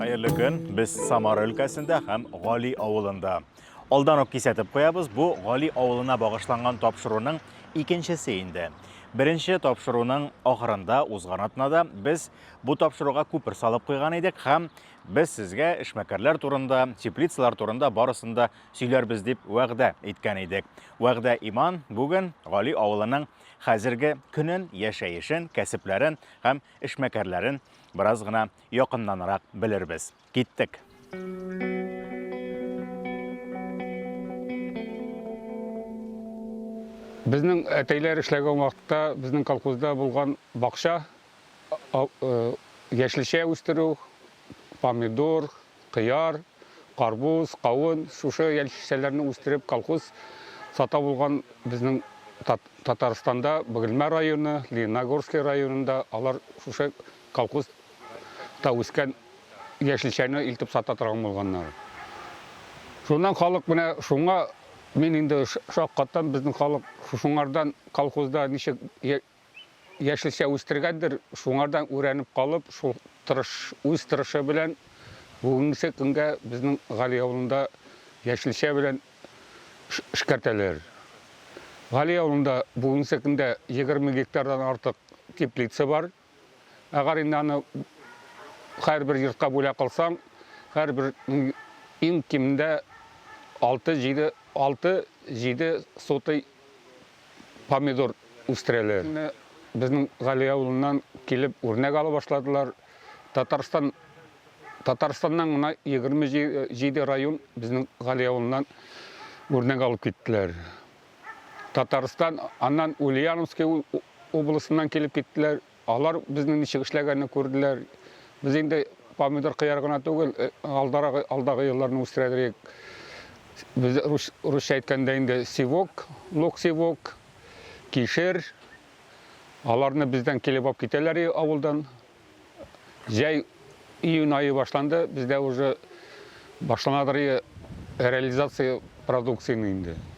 Хәерле көн. Без Самара өлкәсендә һәм Гали авылында. Алдан ук кисәтеп куябыз, бу Гали авылына багышланган тапшыруның икенчесе инде. Беренче тапшыруның ахырында узган атнада без бу тапшыруга күпер салып куйган идек һәм без сезгә эшмәкәрләр турында, теплицалар турында барысын да сөйләрбез дип вәгъдә иткән идек. Вәгъдә Иман бүген Гали авылының хәзерге көнен, яшәешен, кәсепләрен һәм эшмәкәрләрен бераз гына якыннанрак белербез. Киттек! Безнең әтәйләр эшләгән вакытта безнең колхозда булган бакча яшелчә үстерү, помидор, кыяр, карбуз, кавын, шушы яшелчәләрне үстереп колхоз сата булган безнең Татарстанда Бөгелмә районы, Лениногорский районында алар шушы колхоз та үскән яшелчәне илтеп сата торган булганнар. Шуннан халык менә шуңа мин инде шаккаттан, безнең халык шуңардан колхозда ничек яшелчә үстергәндер, шуңардан үрәнеп калып, шул тырыш, үз тырышы белән бүгенге көнгә безнең Гали авылында яшелчә белән эшкәртәләр. Гали авылында бүгенге көндә 20 гектардан артык теплица бар. Әгәр инде аны һәрбер йортка бүләк кылсаң, һәрбер иң кимендә 6-7 6-7 сотый помидор үстерәләр. Безнең Гали авылыннан килеп үрнәк ала башладылар. Татарстан Татарстаннан гына 27 район безнең Гали авылыннан үрнәк алып киттеләр. Татарстан, аннан Ульяновский областеннан килеп киттеләр. Алар безнең ничек эшләгәнне күрделәр. Без инде помидор, кыяр гына түгел, э, алдарагы, алдагы елларны үстерәдерик. Без рус, русча әйткәндә инде сивок, лук сивок, кишер. Аларны бездән килеп алып китәләр и- авылдан. Җәй июнь ае башланды, бездә уже башланадыр и реализация продукцияне инде.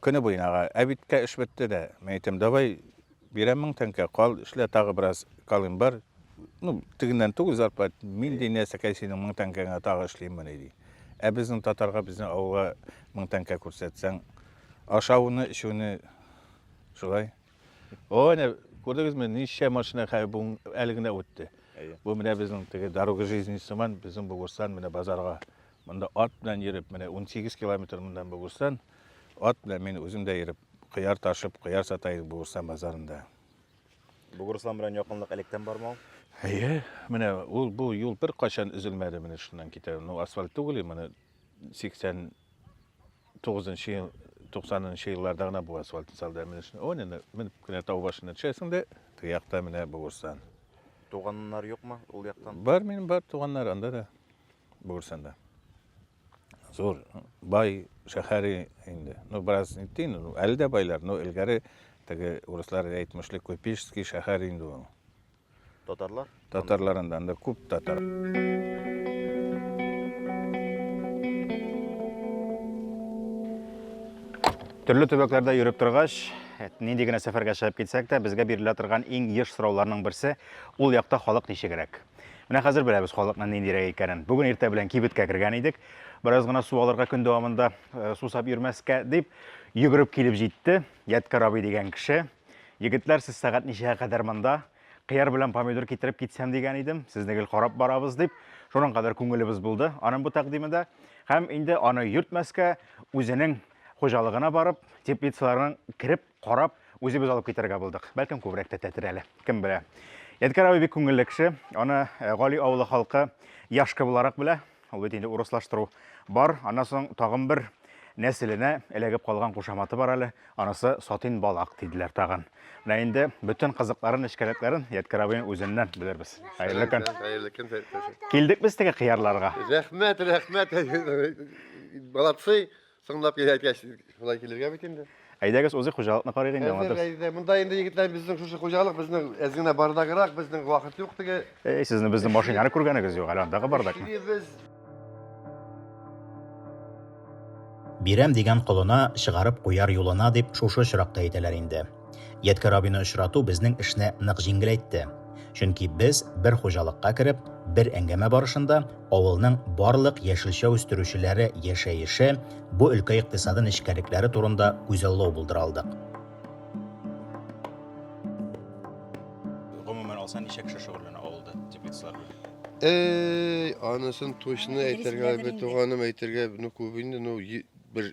Көне буена, ага, ә бит кә эш бетте дә. Мин әйтәм, давай, бирәм мең тәңкә, кал, эшлә, тагы бераз калыйм бар. Ну, тегеннән түгел зарплат, мин ди, нәрсәкәй синең мең тәңкәңә тагы эшлиммени, ди. Ә безнең татарга, безнең авылга мең тәңкә күрсәтсәң, ашавыны, эчүне шулай. О, әнә, күрдегезме, ничә машина хәзер бу әле генә үтте. Бу менә безнең теге дорога жизни сыман, безнең Бугурстан менә базарга Монда ат белән йөреп, менә 18 километр мондан Бугурстан, ат белән мин үзем дә йөреп, кыяр ташып, кыяр сата идем Бугурстан базарында. Бугурстан белән якынлык электән бармы ул? Әйе, менә ул бу юл бер кайчан өзелмәде, менә шуннан китә. Ну, асфальт түгел, моны 80 9 ел 90 елларда гына бу асфальт салды менә шуны он инде менеп кенә тау башына төшәсең дә теге якта менә бугырсан туганнар юкмы ул яктан бар минем бар туганнар анда да Бугырсында. Зур, бай шәһәре инде. Ну, бераз нитти, ну, әле дә байлар, но элгәре теге урыслар әйтмешли Купеческий шәһәр инде ул. Татарлар? Татарларында анда күп татар. Төрле төбәкләрдә йөреп торгач, нинди генә сәфәргә чыгып китсәк тә, безгә бирелә торган иң еш сорауларның берсе, ул якта халык ничегрәк? Менә хәзер беләбез халыкның ниндирәк икәнен. Бүген иртә белән кибеткә кергән идек. Бераз гына су алырга көн дәвамында э, сусап йөрмәскә дип йөгереп килеп җитте Ядкар абый дигән кеше. Егетләр, сез сәгать ничәгә кадәр монда? Кыяр белән помидор китереп китсәм дигән идем. Сезне гел карап барабыз дип, шуның кадәр күңелебез булды аның бу тәкъдимендә. Һәм инде аны йөртмәскә, үзенең хуҗалыгына барып, теплицаларның кереп Карап, үзебез алып китәргә булдык. Бәлкем күбрәк тә тәтер әле, кем белә. Ядкар абый бик күңелле кеше. Аны э, Гали авылы халкы Яшка буларак белә. Ул бит инде урыслаштыру бар. Аннан соң тагын бер нәселенә эләгеп калган кушаматы бар әле. Анысы Сатин балак диделәр тагын. Менә инде бөтен кызыкларын, эчкәлекләрен Ядкар абыйның үзеннән белербез. Хәерле көн. Хәерле көн. Килдек без теге кыярларга. Рәхмәт, рәхмәт. Молодцы. Соңлап килә әйткәч, шулай килергә бит инде. Әйдәгез узыйк хуҗалыкны карыйк инде аңлатырсыз. Әйдә, әйдә. Монда инде егетләр безнең шушы хуҗалык безнең әз генә бардаграк, безнең вакыт юк теге. Эй, сезнең безнең машинаны күргәнегез юк, әле андагы бардак. Бирәм дигән колына, чыгарып куяр юлына, дип шушы очракта әйтәләр инде. Ядкәр абыйны очрату безнең эшне нык җиңеләйтте. Чөнки без бер хуҗалыкка кереп, бер әңгәмә барышында авылның барлык яшелчә үстерүчеләре яшәеше, бу өлкә икътисады нечкәлекләре турында күзаллау булдыра алдык. Гомумән алсаң, ничә кеше шөгыльләнә авылда теплицалар белән? Әй, анысын точно әйтергә, бер туганым әйтергә, ну күп инде, ну бер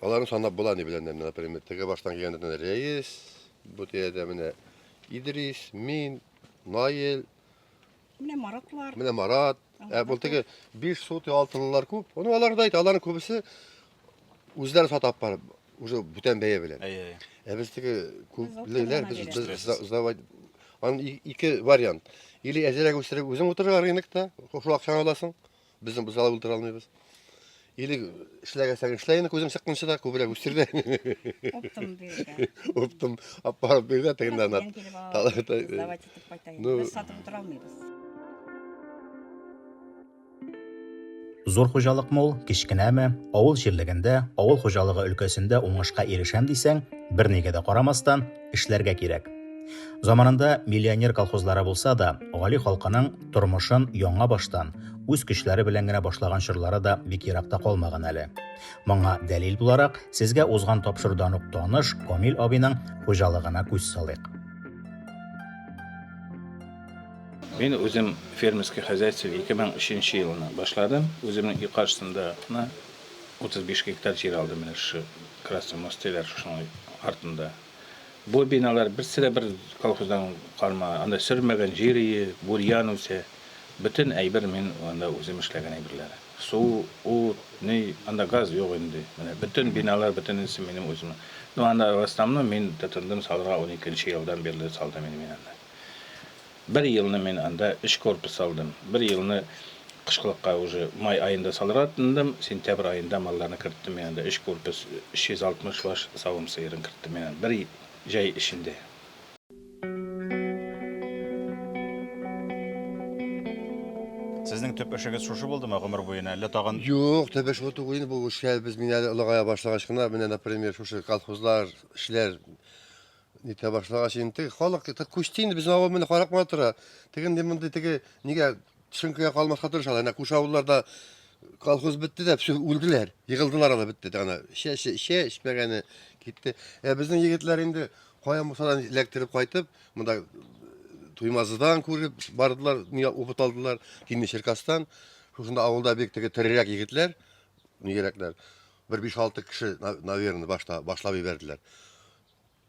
Аларны санап була ни белән, например, теге баштан килгәннәрдән Рәис, бу тирәдә менә Идрис, мин, Наил, Менә Маратлар. Менә Марат. Ә бу теге 5 сот алтылылар күп. Аны алар да әйтә, аларның күбесе үзләре сатап барып, уже бүтән бәя белән. Әйе. Ә без теге күплеләр без без сдавать. Аны ике вариант. Или әзерәк үстереп үзең утырырга рынокта, шул акчаны аласың. Безнең бозала өлтер алмыйбыз. Или эшләгәсәң эшлә инде күзең чыкканчы да күбрәк үстер дә. Оптым бирде. Оптым аппарат бирде тегеннән ат. Давай титеп кайтайын. Ну, Без сатып утыра алмыйбыз. Зур хуҗалык мул, кечкенәме, авыл җирлегендә, авыл хуҗалыгы өлкәсендә уңышка ирешәм дисәң, бернигә дә карамастан, эшләргә кирәк. Заманында миллионер колхозлары булса да, гали халкының тормышын яңа баштан, үз көчләре белән генә башлаган чорлары да бик еракта калмаган әле. Моңа дәлил буларак, сезгә узган тапшырудан ук таныш Камил абыйның хуҗалыгына күз салыйк. Мин үзем фермерский хозяйство 2003 елына башладым. Үземнең өй каршысында 35 гектар җир алды менә шушы Красный монастырьлар шушының артында. Бу биналар берсе дә бер колхоздан калма, анда сөрмәгән җир ие, бурьян үсә. Бөтен әйбер мин анда үзем эшләгән әйберләр. Су, ут, ни, анда газ юк инде. Менә бөтен биналар, бөтенесе минем үзем. Ну, анда в основном мин тотындым салырга 12 нче елдан бирле салдым инде мин анда. Бер елны мин анда өч корпус салдым. Бер елны кышкылыкка уже май аенда салырга тындым, сентябрь аенда малларны керттем мин анда, өч корпус, 360 баш савым сыерын керттем мин анда, бер җәй эчендә. Сезнең төп эшегез шушы булдымы гомер буена, әллә тагын? Юк, төп эш бу түгел инде, бу эшкә без мин әле олыгая башлагач кына, менә, например, шушы колхозлар, эшләр, Нитә башлагач инде теге халык это күчте инде безнең авыл менә карап кына тора. Теге инде мондый теге нигә төшенкегә калмаска тырышалар. Әнә күрше авылларда колхоз бетте дә, все үлделәр. Егылдылар аны бетте дә ана. Чәче, чәчмәгәне китте. Ә безнең егетләр инде кая мусадан эләктереп кайтып, монда Туймазыдан күреп бардылар, нигә опыт алдылар, Тимер Черкастан. Шушында авылда бик теге терерәк егетләр, нигәрәкләр. Бер 5-6 кеше, на- наверное, башта башлап ебәрделәр.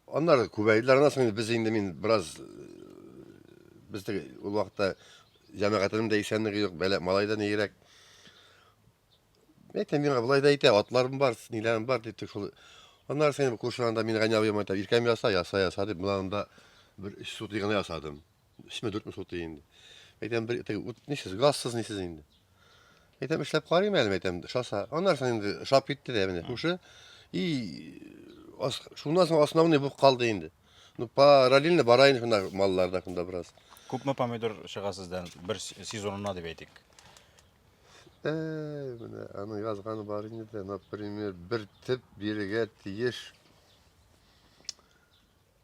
Аннары күбәйделәр, аннан соң без инде мин бераз без теге ул вакытта җәмәгатенең дә исәнлеге юк, бәлә малай да нигрәк. Әйтә миңа болай да әйтә, атларым бар, ниләрем бар дип шул. Аннары соң күршеләрдә мин гәнә абыйма әйтәм, иркәм яса, яса, яса дип, мына монда бер өч сутый гына ясадым. Өчме, дүртме су тия инде. Әйтәм, бер теге ут нисез, газсыз нисез инде. Әйтәм, эшләп карыйм әле, әйтәм, шаса. Аннарсын инде шап китте дә менә күрше. И ас, шуннан соң основной булып калды инде. Ну, параллельно бара инде шунда маллар да шунда бераз. Күпме помидор чыга сездән бер с- сезонына дип әйтик? Әй, менә аны язганы бар инде дә, например, бер теп бирегә тиеш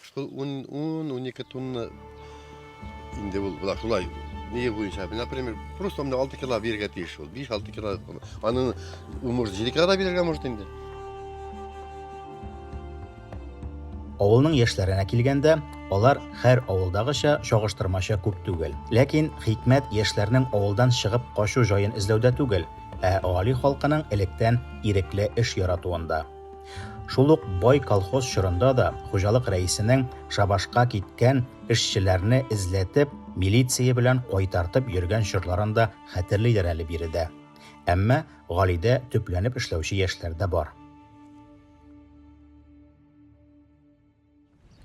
Шул ун-унике тунны инде ул була шулай нигә буенча например просто мына алты кило бирергә тиеш ул биш алты кило аның может җиде кило да бирергә может инде Авылның яшьләренә килгәндә, алар хәр авылдагыча чагыштырмача күп түгел. Ләкин хикмәт яшьләрнең авылдан чыгып качу җаен эзләүдә түгел, ә гали халкының электән ирекле эш яратуында. Шул ук бай колхоз чорында да хуҗалык рәисенең шабашка киткән эшчеләрне эзләтеп, милиция белән кайтартып йөргән чорларын да хәтерлиләр әле биредә. Әмма Галидә төпләнеп эшләүче яшьләр дә бар.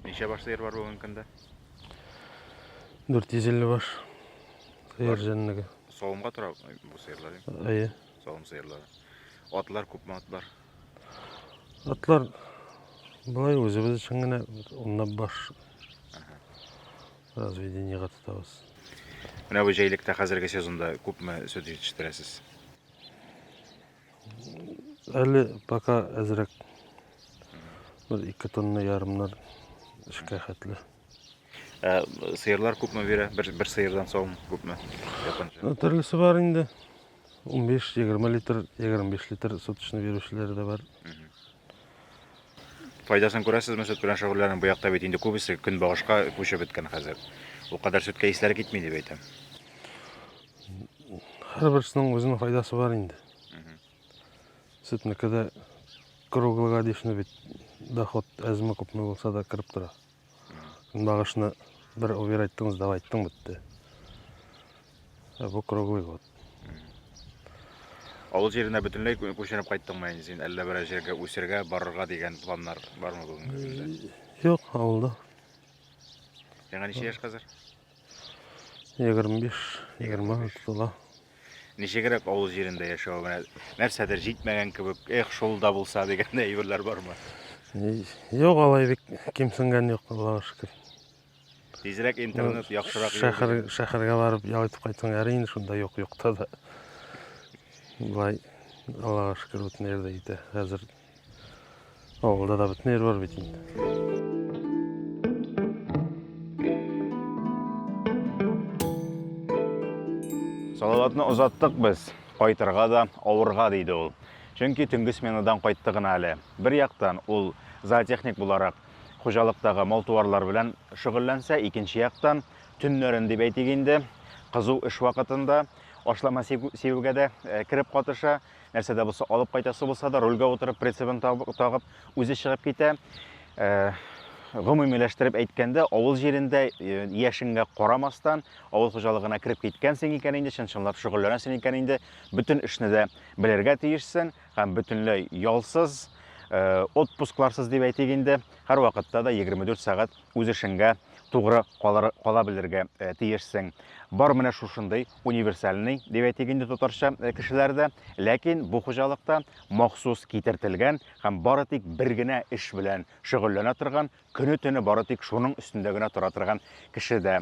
Ничә баш сыер бар бүгенге көндә? 450 баш. Сыер җәнлеге. Савымга тора бу сыерлар. Әйе. Савым сыерлары. Атлар күпме атлар? Атлар былай үзебез өчен генә унлап баш разведениега тотабыз. Менә бу җәйлектә хәзерге сезонда күпме сөт җитештерәсез? Әле пока әзрәк. Бер ике тонна ярымнар эшкә хәтле. Ә сыерлар күпме бирә? Бер, бер сыердан савым күпме? Японча. Төрлесе бар инде. 15-20 литр, 25 литр суточный бирүчеләре дә бар. Файдасын күрәсезме сөт белән шөгыльләнү? Бу якта бит инде күбесе көнбагышка күчеп беткән хәзер. Ул кадәр сөткә исләре китми дип әйтәм. Һәрберсенең үзенең файдасы бар инде. Сөтнеке дә круглогодичный бит. Доход әзме күпме булса да кереп тора. Багышны бер убер айттыңыз, давай айттың бетте. Ә бу круглый год. Авыл җиренә бөтенләй күченеп кайттыңмы инде син? Әллә берәр җиргә үсергә, барырга дигән планнар бармы бүгенге көндә? Юк, авылда. Яңа ничә яшь хәзер? 25-20 тотыла. Ничегрәк авыл җирендә яшәү менә нәрсәдер җитмәгән кебек, эх, шул да булса дигән әйберләр бармы? Юк, алай бик кимсенгән юк, Аллага шөкер. Тизрәк интернет яхшырак. Шәһәр шәһәргә барып ял итеп кайтсаң, әрине шунда юк, юкта да. Болай Аллага шөкер, бөтен җирдә җитә. Хәзер Авылда да бөтен бар бит инде. Салаватны озаттык без. Кайтырга да, авырга диде ул. Чөнки төнге сменадан кайтты гына әле. Бер яктан ул зоотехник буларак хуҗалыктагы мал-туарлар белән шөгыльләнсә, икенче яктан төннәрен дип әйтик инде, кызу эш вакытында ашлама сибүгә дә кереп катыша. Нәрсә дә булса алып кайтасы булса да, рульгә утырып, прицебын тагып, үзе чыгып китә. Э, гомумиләштереп әйткәндә, авыл җирендә э, яшеңгә карамастан, авыл хуҗалыгына кереп киткәнсең икән инде, чынчынлап шөгыльләнәсең икән инде, бөтен эшне дә белергә тиешсең һәм бөтенләй ялсыз, э, отпускларсыз дип әйтик инде, һәрвакытта да 24 сәгать үз эшеңгә тугры калыр, кала белергә э, тиешсең. Бар менә шушындый универсальный, дип әйтик инде татарча, э, кешеләр дә, ләкин бу хуҗалыкта махсус китертелгән һәм бары тик бер генә эш белән шөгыльләнә торган, көне-төне бары тик шуның өстендә генә тора торган кеше дә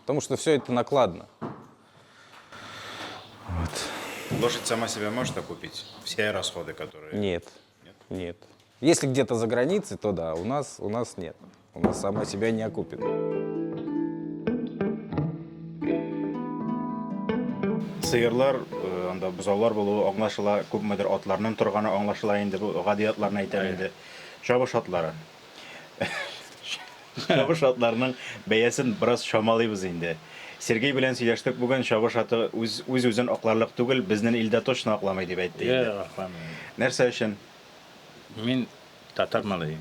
Потому что все это накладно. Вот. Лошадь сама себя может окупить? Все расходы, которые... Нет. Нет? Нет. Если где-то за границей, то да, у нас, у нас нет. У нас сама себя не окупит. Сыерлар анда бозаулар булуы аңлашыла, күпмедер атларның торганы аңлашыла инде, бу гади атларны әйтәм инде. Чабыш атлары. Чабыш атларның бәясен бераз чамалыйбыз инде. Сергей белән сөйләштек бүген, чабыш аты үз үз-үзен акларлык түгел, безнен илдә точно акламый дип әйтте инде. Юк, акламый. Нәрсә өчен? Мин татар малае,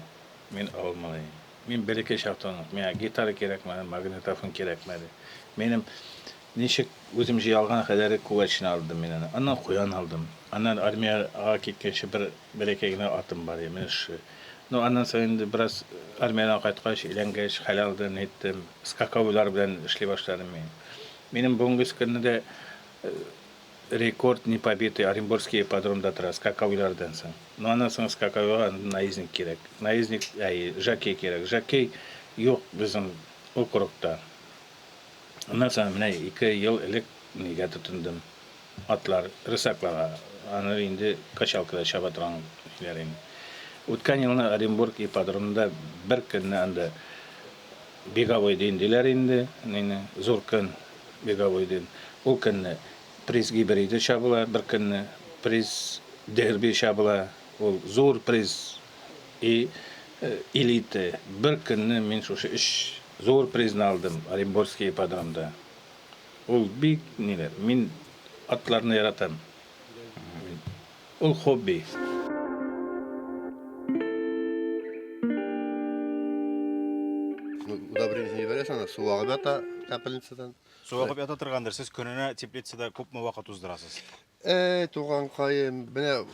мин авыл малае. Мин бер-ике чактан ук, миңа гитара кирәкмәде, магнитофон кирәкмәде. Минем ничек үзем җыя алган кадәре күгәрчен алдым мин аны. Аннан куян алдым. Аннан армиягә киткәнче бер Бәләкәй генә атым бар иде, менә шушы. Ну, аннан соң инде бераз армиядән кайткач, өйләнгәч, хәл алды, әйттем, скаковойлар белән эшли башладым мин. Минем бүгенгесе көнне дә рекорд непобитый Оренбургский ипподромда тора, скаковойлардан соң. Ну, аннан соң скаковойга наездник кирәк. Наездник, әй, жокей кирәк. Жокей юк безнең округта. Аннан соң менә ике ел элек нигә тотындым. Атлар, рысакларга, аны инде качалкада чаба торган көйләр иде. Үткән елны Оренбург ипподромында бер көнне анда беговой дин диләр инде, мине зур көн беговой дин. Ул көнне приз гибриды чабыла, бер көнне приз дерби чабыла, ул зур приз и элиты. Бер көнне мин шушы өч зур призны алдым Оренбургский ипподромда. Ул бик ниле, мин атларны яратам. Ул хобби. Удобрение җибәрәсең, аны су агып ята капельницадан. Су агып ята торгандыр. Сез көненә теплицада күпме вакыт уздырасыз? Эй, туган каем, менә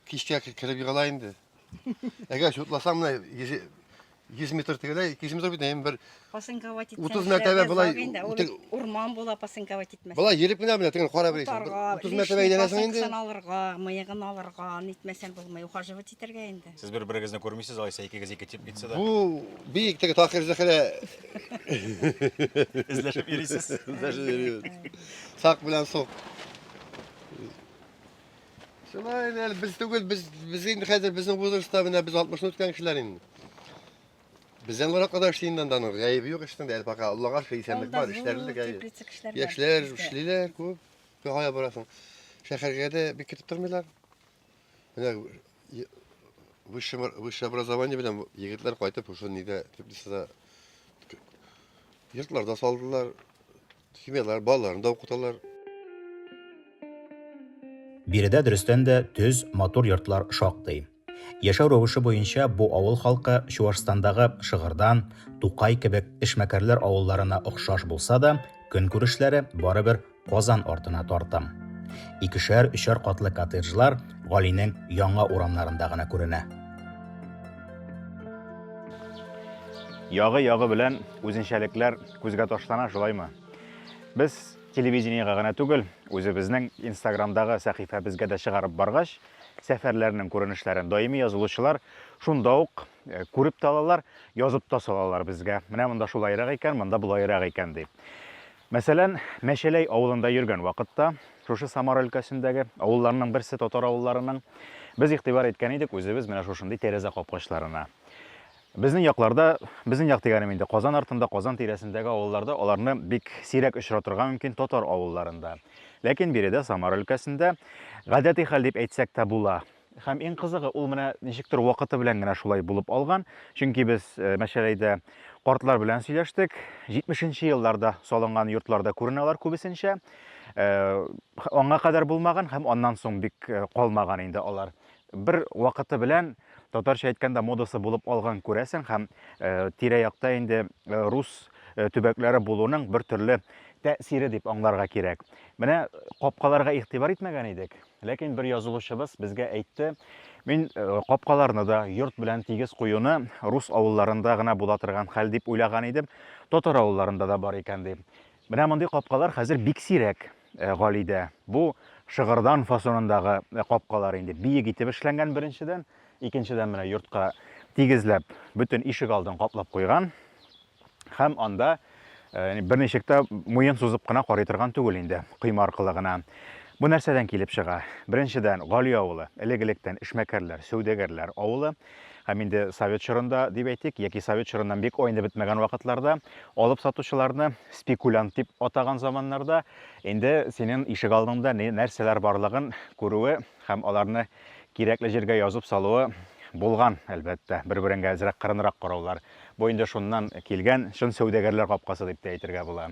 кичкә кереп егыла инде. Әгәр чутласаң менә 100 100 метр тегелә, 200 метр бит инде бер Пасынковать итсәң. 30 мәртәбә болай үтек- урман була пасынковать итмәсәң. Болай йөреп кенә менә тегене карап йөрисең. Утарга, 30 мәртәбә лишний әйләнәсең инде. пасынкасын алырга, мыегын алырга, нитмәсәң булмый, ухаживать итәргә инде. Сез бер-берегезне күрмисез, алайса икегез ике тип китсә дә. Бу бик теге Такир Зәхрә Эзләшеп йөрисез. Сак белән сук. Шулай инде без түгел, без без инде хәзер безнең возрастта менә без 60 үткән кешеләр инде. Бездән урак кадәр эшли инде анда нык. Гаебе юк эштең дә, пока Аллага шөкер исәнлек бар, эшләре дә гаебе. Яшьләр эшлиләр күп. Кая барасың? Шәһәргә дә бик китеп тормыйлар. Менә высшее высшее образование белән егетләр кайтып, шушы нидә, теплицада йортларда салдылар. Семьялар, балаларын да укыталар. Биредә дөрестән дә төз, матур йортлар шактый. Яшәү рәвеше буенча бу авыл халкы Чуашстандагы Шыгырдан, Тукай кебек эшмәкәрләр авылларына охшаш булса да, көнкүрешләре барыбер Казан артына тартым. Икешәр, өчәр катлы коттеджлар Галинең яңа урамнарында гына күренә. Ягы-ягы белән үзенчәлекләр Күзгә ташлана шулаймы? Без телевидениега гына түгел, үзебезнең Инстаграмдагы сәхифәбезгә дә чыгарып баргач, сәфәрләрнең күренешләрен даими язылучылар шунда ук э, күреп тә алалар, язып та салалар безгә. Менә монда шулайрак икән, монда болайрак икән дип. Мәсәлән, Мәчәләй авылында йөргән вакытта, шушы Самар өлкәсендәге авылларның берсе татар авылларының без игътибар иткән идек үзебез менә шушындый тәрәзә капкачларына. Безнең якларда, безнең як дигәнем инде Казан артында, Казан тирәсендәге авылларда аларны бик сирәк очратырга мөмкин, татар авылларында. Ләкин биредә, Самара өлкәсендә, гадәти хәл дип әйтсәк тә була. Һәм иң кызыгы, ул менә ничектер вакыты белән генә шулай булып алган, чөнки без Мәчәләйдә картлар белән сөйләштек, җитмешенче елларда салынган йортларда күренә алар күбесенчә, аңа кадәр булмаган һәм аннан соң бик калмаган инде алар. Бер вакыты белән татарча әйткәндә модасы булып алган күрәсең һәм тирә-якта инде рус төбәкләре булуның бер төрле тәэсире дип аңларга кирәк. Менә капкаларга игътибар итмәгән идек, ләкин бер язылучыбыз безгә әйтте, мин капкаларны да йорт белән тигез куюны рус авылларында гына була торган хәл дип уйлаган идем, татар авылларында да бар икән, ди. Менә мондый капкалар хәзер бик сирәк, Галидә. Бу шыгырдан фасонындагы капкалар инде. Биек итеп эшләнгән, беренчедән. Икенчедән, менә йортка тигезләп, бөтен ишек алдын каплап куйган. Һәм анда бер ничек тә муен сузып кына карый торган түгел инде, койма аркылы гына. Бу нәрсәдән килеп чыга? Беренчедән, Гали авылы, элек-электән эшмәкәрләр, сәүдәгәрләр авылы. Һәм инде совет чорында, дип әйтик, яки совет чорыннан бик айнып бетмәгән вакытларда, алып сатучыларны спекулянт дип атаган заманнарда, инде синең ишек алдыңда нәрсәләр барлыгын күрүе һәм аларны кирәкле җиргә язып салуы булган, әлбәттә, бер-береңә әзрәк кырынрак караулар. Бу инде шуннан килгән чын сәүдәгәрләр капкасы дип тә әйтергә була.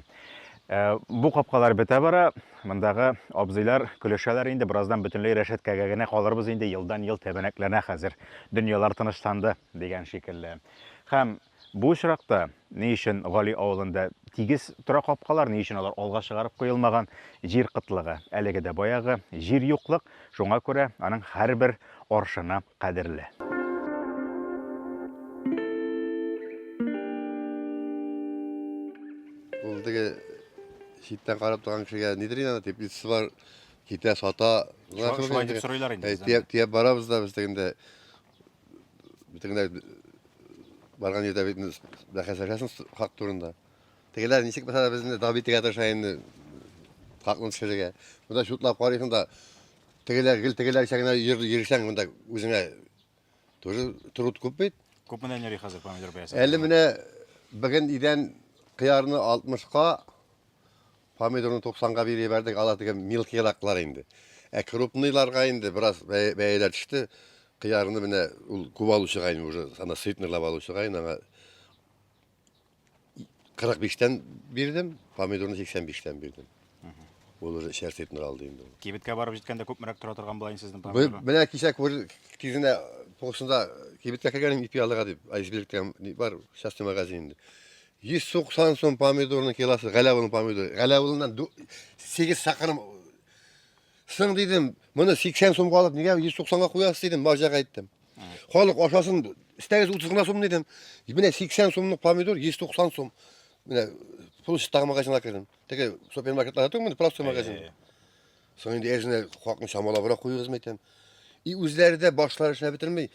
Э, бу капкалар бетә бара, мондагы абзыйлар көлешәләр инде, бераздан бөтенләй рәшәткәгә генә калырбыз инде, елдан-ел тәбәнәкләнә хәзер, дөньялар тынычланды дигән шикелле. Һәм бу очракта ни өчен Гали авылында тигез тора капкалар, ни өчен алар алга чыгарып куелмаган? Җир кытлыгы, әлеге дә баягы, җир юклык, шуңа күрә аның һәрбер аршыны кадерле. Ул теге читтән карап торган кешегә нидер инде аны теплицасы бар, китә сата. Шулай- шулай дип сорыйлар инде Әй, бездән. Тияп, тияп барабыз да без тегендә. Тегендә барган җирдә бит инде бәхәсләшәсең с- хак турында. Тегеләр ничек булса да безне дабитергә тырыша инде хакны төшерергә. Монда чутлап карыйсың да Тегеләр, гел тегеләрчә генә йөр- йөрсәң, монда үзеңә тоже труд күп бит. Күп менән йөри хәзер помидор бәясе. Әле менә бүген идән кыярны 60-ка, помидорны 90-га биреп ебәрдек, ала теге мелкийраклар инде. Ә крупныйларга инде бераз бәя- бәяләр төште. Кыярны менә ул күп алучыга инде уже, ана сытныйлап алучыга инде аңа 45-тән бирдем, помидорны 85-тән бирдем. Ул уже эчәрсеп нор алды инде. Кибеткә барып җиткәндә күпмерәк тора торган була инде сезнең помидор. Менә кичә күр тизенә тошында кибеткә кергәнем ипи алырга дип, айсберг дигән бар, частный магазин инде. 190 сум помидорның килосы, галявылның помидоры. Галявылыннан 8 сакырым Сың дидем, моны 80 сумга алып, нигә 190-га куясыз дидем, бажак әйттем. Халык ашасын, истәгез 30 гына сум дидем. Менә 80 сумлык помидор 190 сум. Менә площадь тагы магазинга кердем. Теге супермаркетларда түгел, менә просто магазин. Соң инде әзенә хакны чамалабрак куюыгызмы әйтәм. И үзләре дә башлары эшләп бетермей.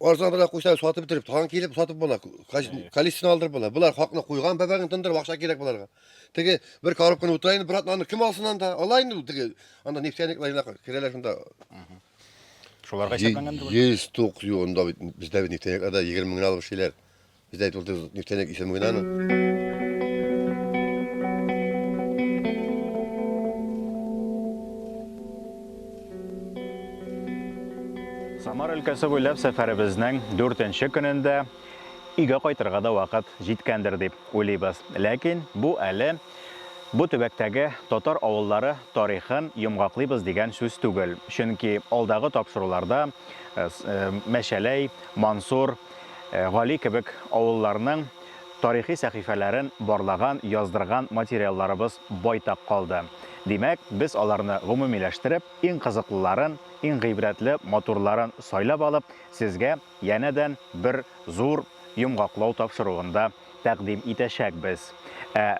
Арзан белән куйсаң сатып бетереп, тагын килеп сатып була. Количествоны алдырып була. Болар хакны куйган бәбәген тындырып акча кирәк боларга. Теге бер коробканы утыра инде, брат, аны кем алсын анда? Ала инде ул теге. Анда нефтяник лайна керәләр шунда. Шуларга исәпләнгән дә. 100 тук юнда бит бездә бит нефтяникларда 20 меңгә алып эшлиләр. Здесь был нефтяник из Муйнана. Самар өлкәсе буйлап сәфәребезнең дүртенче көнендә өйгә кайтырга да вакыт җиткәндер дип уйлыйбыз. Ләкин бу әле бу төбәктәге татар авыллары тарихын йомгаклыйбыз дигән сүз түгел. Чөнки алдагы тапшыруларда э, э, Мәчәләй, Мансур, Гали кебек авылларның тарихи сәхифәләрен барлаган, яздырган материалларыбыз байтак калды. Димәк, без аларны гомумиләштереп, иң кызыклыларын, иң гыйбрәтле, матурларын сайлап алып, сезгә янәдән бер зур йомгаклау тапшыруында тәкъдим итәчәкбез. Ә.